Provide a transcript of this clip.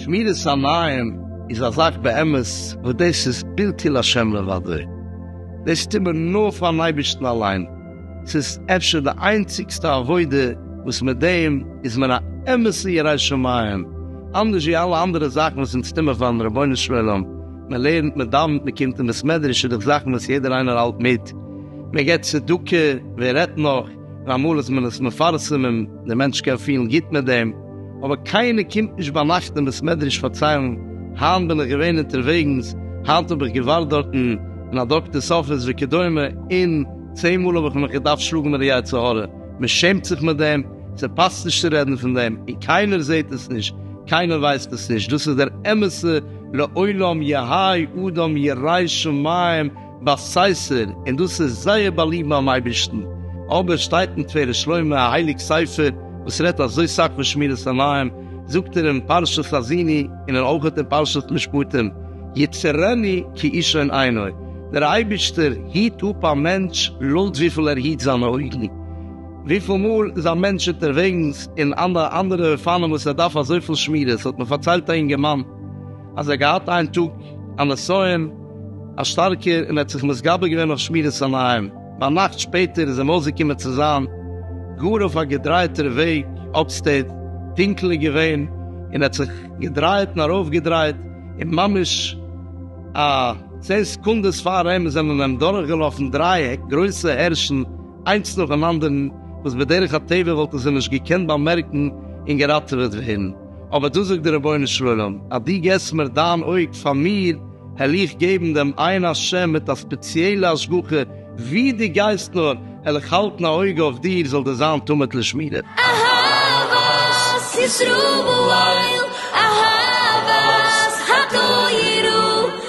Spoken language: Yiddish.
שמירת עיניים איז א זאך באמת וואס דאס איז בלתי להשם לבדו, דאס טוט מען נאר פארן אייבערשטן אליין, ס'איז אפשר די איינציגסטע עבודה וואס מיט דעם איז מען א אמת'ע ירא שמים, אנדערש ווי אלע אנדערע זאכן וואס אונז טו מיר פארן רבונו של עולם, מען לערנט, מען דאווענט, מען קומט אין בית מדרש, איז דאך זאכן וואס יעדער איינער האלט מיט, מען געבט צדקה, ווער רעדט נאך ווען אמאל איז מען עס מפרסם און דער מענטש קען פילן גוט מיט דעם, אבער קיינער קומט נישט ביינאכט אין בית מדרש פארציילן, היינט בין איך געווען אונטערוועגנס, היינט האב איך געווארט דארטן אין א דאקטער'ס אפיס וכדומה, און צען מאל האב איך מיך געדארפט שלאגן מיט די יצר הרע, מען שעמט זיך מיט דעם, ס'פאסט נישט צו רעדן פון דעם, און קיינער זעט עס נישט, קיינער ווייסט עס נישט, דאס איז דער אמת'ע. לעולם יהאי אדם יראי שמים בסייסער, און דאס איז זייער באליבט ביים אייבערשטן, אבער שטייט אין תפארת שלמה א הייליג ספר וואס רעדט אזוי סאך פון שמירת עיניים, זאגט ער אין פרשת האזיני און אויך אין פרשת משפטים, יצרני כי אישון עיני, דער אייבערשטער היט אפ א מענטש לויט וויפיל ער היט זיינע אויגן. וויפיל מאל איז א מענטש אונטערוועגנס אין אן אנדערע אופנים וואס ער דארף אזויפיל שמירה, ס'האט מיר פארציילט א אינגערמאן אז ער האט געהאט איין טאג א נסיון א שטארקער און ער האט זיך מתגבר געווען אויף שמירת עיניים, ביינאכט שפעטער איז אים אויסגעקומען צו זיין גאר אויף א געדרייטער וועג אפסטעיט, טונקל איז געווען און ער האט זיך געדרייט און ארויפגעדרייט און ממש א צען סעקונדעס פאר אים זענען אים דורכגעלאפן דרײַ גרויסע הערשן, איינס נאך דעם אנדערן, וואס בדרך הטבע וואלטן זיי נישט געקענט באמערקן און געראטעוועט ווערן, אבער דא זאגט דער רבונו של עולם, אז דו געסט מיר דיין אויג פאר מיר, העל איך געבן דעם עין השם מיט א ספעציעלע השגחה, ווי דו גייסט נאר, העל איך האלטן א אויג אויף דיר, זאל דיר זיין תמיד לשמירה. אהבת ישראל, אהבת התורה